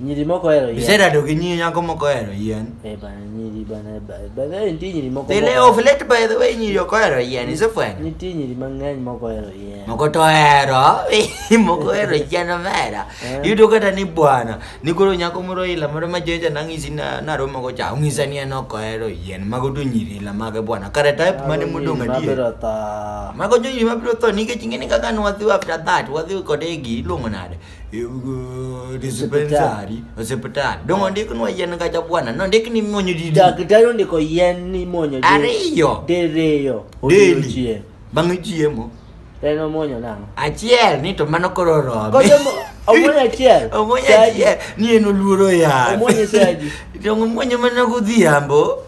Nyiri moko ohero yien. Iserado gi nyiri nyako moko ohero yien. Eh bana nyiri bana ba- by the way nitie nyiri moko. They lay moko- off late by the way nyiri ok ohero yien isefwenyo. Nitie nyiri mang'eny moko ohero yien. Moko to ohero moko ohero yien omera. Eh. Yudo kata ni bwana ni koro nyako moro ila moro ma joja nang'isi na naromo go cha ong'isa ni en ok ohero yien mago to nyiri ila mage bwana kare type mane Mago modong' nyiri adier. mabiro tho. Mago nyiri mabiro tho nikech ing'eni kaka ne wadhi after that wadhi kode e gi iluongo nade. disipensari osiptal dongo ndiknwa yien kacha bwana nondik ni muonyo didi daktari ondiko yien ni muonyo di- ariyo diriyo deli odiochieng' bang' chiemo en omuonyo nang'o achiel ni to mano koro robe Koso mo- omuonyo achiel omuonyo Saji. achiel ni en oluoro yath Omuonyo saji. dongo muonyo mana godhiambo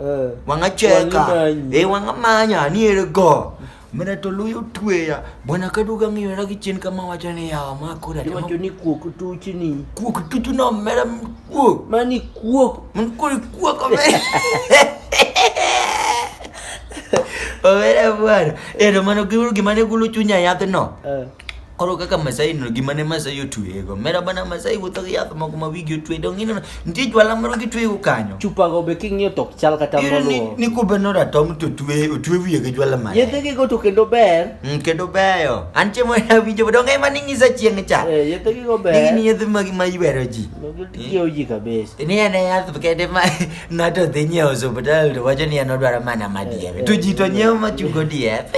Eh. wangacheka Wangimanyi. eh, wangamanya aniere go mina to luyo tweya bwana kaduga ngiyora gi chien kama wacho ni yawa ma kora temo Iwacho ni kuok tuchni. kuok tutu no mera kuok Mani kuok. mun kuri kuok ome omera bwana ero mano giuru gima ne gulu chunya yath no Eh. koro kaka Masai no gima ne Masai otweyego mera bana Masai wuotho gi yath moko ma wigi otwe dong ineno nitie jwala moro gitweyego kanyo chupa go be king'iyo tok chal kata Ineno ni- moluwo ni kube no ratom to twe otwe wiye gi jwala mare yedhegi go to kendo ber Mm, kendo beyo an chiemo awinjo dong ema ning'isa chieng' cha Eh, yedhegi go ber nigini yedhe magi ma iwero ji gitiyo ji kabisa ni en e yath kende ma ng'ato dhi nyiewo osuptal to wacho ni en odwaro mana madier to ji to nyiewo machungo diep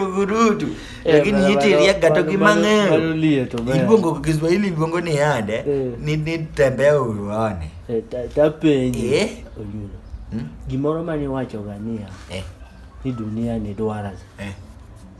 Ugurutu. Eh, Lakini bado- hiti bado- riaga bado- toki bado- bado mang'eyo. lie to ber. Iluongo kwa Kiswahili iluongo ni yande. Eh. Ni ni tembea uone. Eh, ta- tapenji Eh? oyulo Hmm? gimoro mane iwachoga niya Eh. ni dunia ni dwarasi Eh.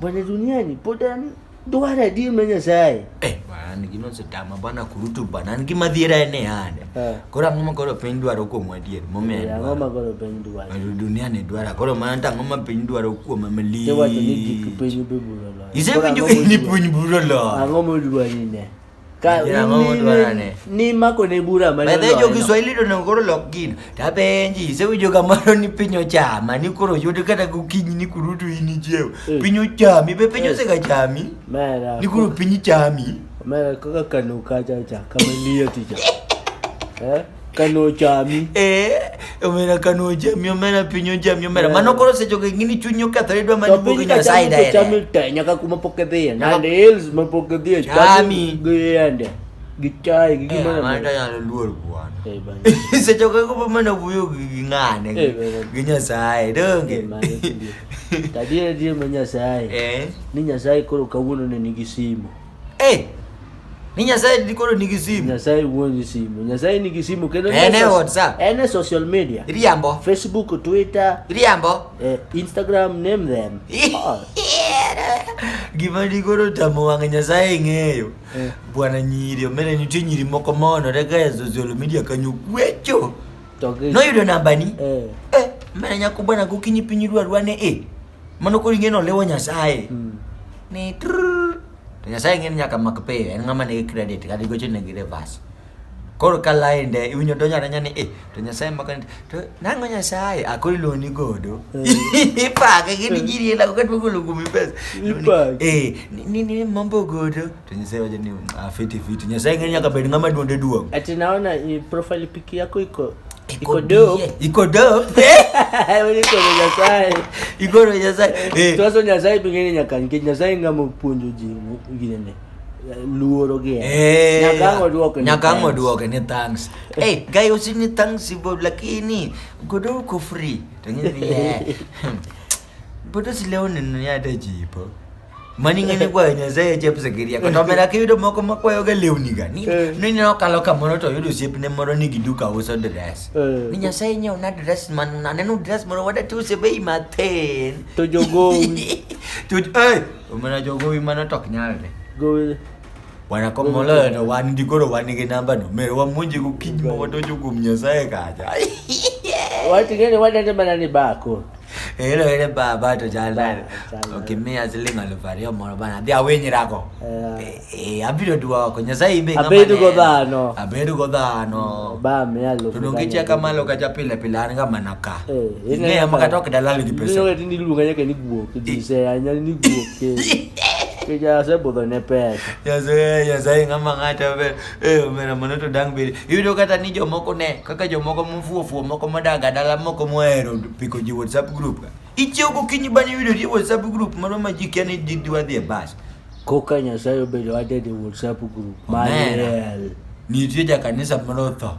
bwana duniani pod en Dwar adier ma Nyasaye. Eh, an gino osetama bana kurutu bana an gima dhiera en e ane eh. koro ang'o ma koro piny dwaro kuom adier momiyo eh, ang'o ma koro piny dwaro dunia ni dwara koro mana to ang'o ma piny dwaro kuom amali isewacho ni gik piny biro loyo isewinjo ni piny biro loyo ang'o ma dwari ne nimako ne bura bedhe jo kiswahili to nego koro lok gino to apenji isewinjo kamano ni piny ochama ni koro yud kata gokinyi ni kurutu in ichiew eh. piny ochami be piny eh. osega chami ni koro piny chami kaka kano kacha cha kama liyo ticha eh? kano chami eh omera kano chami omera piny ochami omera yeah. mano koro seche go ingini chunyo kethore dwa mani bugo nyo sai da chami te nyaka kuma pok edhiye nande hills ma pok edhiye chami giyende gichaye gi gimana eh, mana ta nyalo luor bwana eh bana seche go ko mana wuyo gi ngane eh, gi nyasaye donge eh, tadie die ma nyasaye eh ni nyasaye koro kawuono ne nigi simo Hey! Ni Nyasaye ndi koro nigi simu. Nyasaye wuonji simu. Nyasaye nigi simu kendo En e Nyasaye- WhatsApp. En e social media. Iriambo. Facebook, Twitter, Iriambo. eh, Instagram, name them. Oh, Gima ndi koro tamo wang' Nyasaye ng'eyo. Eh. Bwana nyiri, omere nitie nyiri moko monore ka e social media kanyo gwecho. to gi- Noyudo nambani. Eh. Eh, mera nyako bwana gokinyi piny idwa rwane eh. Mano koro ing'e ni oliwo Nyasaye. Ni trrrr. To Nyasaye ing'e ni nyaka mak pay. En ng'ama nigi credit kata igocho negi reverse. Koro ka lainde iwinjo donjo adonja ni eh to Nyasaye mako ni to nang'o Nyasaye a koro iloni godo. Ipake gini jiri ela kaka tuo golo kuomi pesa. Ipake. Eh ni- ni ni mambo godo. To Nyasaye wacho ni ah fiti fiti. Nyasaye ing'e ni nyaka bed ng'ama duonde duong'. Ati naona i- profile pic yako iko Iko dope. Iko dope. Iko nyasaye. Iko nyasaye. Eh. Tuaso nyasaye pingine nyakange nyasaye ngamo puonjo ji ngine ne. Luoro gi. Eh. Nyakango duoke. Nyakango duoke ni thanks. Eh, hey, guy usini thanks bo lakini godo ko free. Tengine ni. Buto silewni ni ade jipo. Mani ngene kwa nyasaye jep sekiria kata mera kiyudo moko makwayo ga lewni ga ni eh. ni no kalo kamoro to yudo siep ne moro ni giduka uso dress eh. ni nyasaye nyo na dress man na nenu dress moro wada tu se bei matin to jogo to eh omana jogo wi mana tok nyalre gowe wana ko molo to wan di goro wan gi namba no mero wa munji ku kinyo wadojo gum nyasaye kaja wati ngene wada te bana ni bako Hilo ile ba ba to jala. Okay, me as ling al vario moro bana. Dia wenyi rako. Eh, eh abiro duwa ko nyasaye imbe ngama. Abedu go dhano. Abedu go dhano. Ba me alo. Tudonge cha kama lo kacha pile pile an kama naka. Eh, ne amaka tok dalali di pesa. Nyo ni lunga yake ni guo kidise anya ni guo ke. Kija se bodo ne pesa. Ya se ya se ngama ngata be. Eh, omera mono to dang' bedi. Iyudo kata ni jomoko ne, kaka jomoko mofuwo fuwo moko modaga dala moko mohero piko ji WhatsApp group ka. Ichiew gokinyi bang' yudo ji WhatsApp group moro ma ji kia ni di- diwa dhi e bas. Koka Nyasaye obedo added e WhatsApp group. Omera. Maler. Nitie jakanisa moro otho.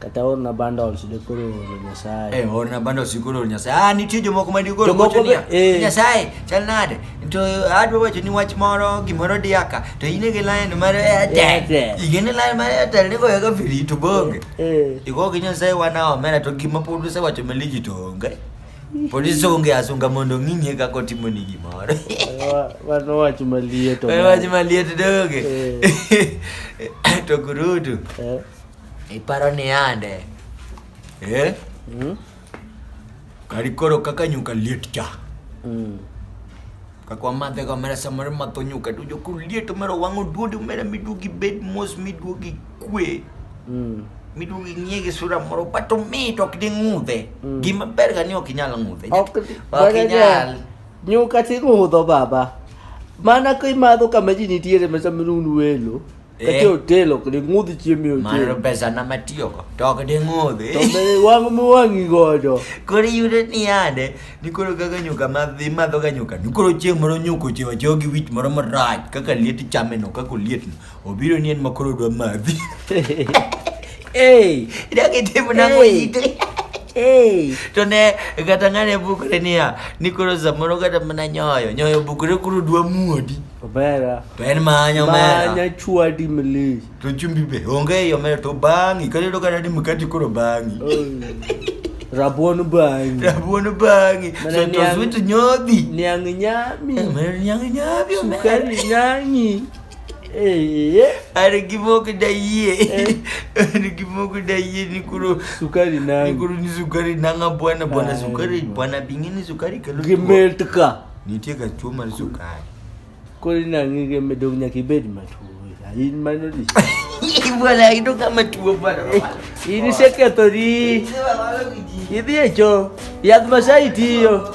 kata orna bundles dekoro oro nyasaye eh orna bundles ikoro oro nyasaye ah nitie jomoko ma dikoro gocho niya eh. nyasaye chal nade to adwa wacho ni wach moro gimoro diaka to in gi line mar airtel igene line mar airtel ni goyo ga free to bonge eh. igo gi nyasaye wana omera to gima pod usewacho meliji to onge pod isonge asunga mondo ng'ing'e kaka otimo ni gimoro wan wach maliet wach maliet doge eh. to kurutu Iparo ni ande. Eh? Mm. Kari koro kaka nyuka liet cha. Mm. Kakwa madhe ka mera samar mato nyuka tu jo kuru liet mera wango duodu mera midugi bed mos midugi kwe. Mm. Midugi nyege sura moro pato mito ok di ng'udhe. Mm. Gima ber ga ni ok inyal ng'udhe. Ok ok inyal. Nyuka ti ng'udho baba. Mana ka imadho kama ji nitiere mesa minunu welo. kati otelo kdi ng'udhi chiemo e Mano otelo pesa na matiyogo to ok ding'udhi to be wang' mowang'i godo koro iyudo ni yande ni koro kaka nyuka madhi madhoga nyuka ni koro chieng' moro nyuka ochewa chewa gi wich moro marach kaka liet chameno kaka olietno obiro ni en ma koro dwa madhi Ei, idak itimo nang'o Hey. ite ei. to ne kata ng'ane bukre niya ni koro samoro kata mana nyoyo nyoyo bukre koro dwa muodi Obera. Ben manyo mera. Manya chwadi mlich. To chumbi be onge yo mera to bangi. Kare do kare ni mkati koro bangi. Rabuon bangi. Rabuon bangi. So to sweet nyodhi. Niang nyami. Eh, mera niang nyami. Sukari nyangi. Eh. Ari gimoko da yie. Eh. Ari gimoko da yie ni kuro sukari na. Ni kuro ni sukari na nga bwana bwana sukari bwana bingini sukari kalu. Gimeltka. Nitie ga tuo mar sukari. Koro inang'i gi medong nyaka ibed matuo. In mano di. Bwana ido kama tuo bwana. In isekethori. Idhi e cho. Yadh masai tiyo.